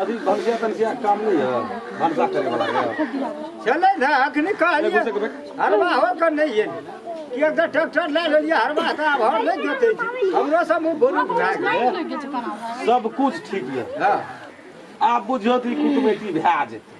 अभी भंसिया तंसिया काम नहीं है भंसा करे वाला है चले ना अखनी कहलिए हरवा हो कर नहीं है कि अगर ट्रैक्टर ले लेलिए हरवा तो अब हर नहीं जोते छी हमरो सब मुंह बोलू बुझा गेल सब कुछ ठीक है हां आप बुझियो ती कुटुमैती भए जेतै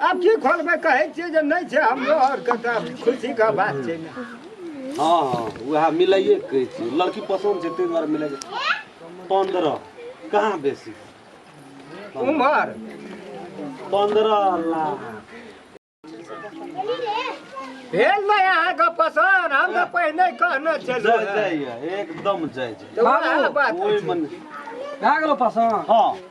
आब की खोलबै कहै छियै जे नहि छै हमरो आरके तऽ खुशीके बात छै ने हँ हँ उएह मिलाइए के कहै छियै लड़की पसन्द छै ताहि दुआरे मिलाइ पन्द्रह कहाँ बेसी उमर पन्द्रह लाख भेल नहि अहाँके पसन्द हम तऽ पहिने कहने छलहुँ जय हेँ। जाइए एकदम जय जाइए तऽ वएह बात ओहि मन भए गेलो पसन्द हँ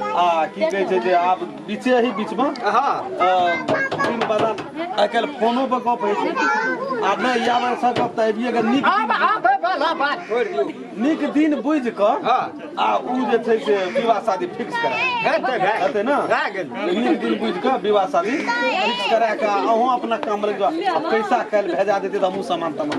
आ की कहै छै जे आब बीचे ही बीच में हाँ तीन बड़ा आइ काल्हि फोनो पर गप होइ छै आ नहि या बेर सब गप तऽ आबिए गेल नीक दिन आबे वाला बात छोड़ दियो नीक दिन बुझि कऽ हाँ आ ओ जे छै से विवाह शादी फिक्स करा है तो है हेतै ने रह गेल नीक दिन बुझि कऽ विवाह शादी फिक्स करा कऽ अहूँ अपना काम लग जाउ आ पैसा काल्हि भेजा देतै तऽ हमहूँ सामान तामान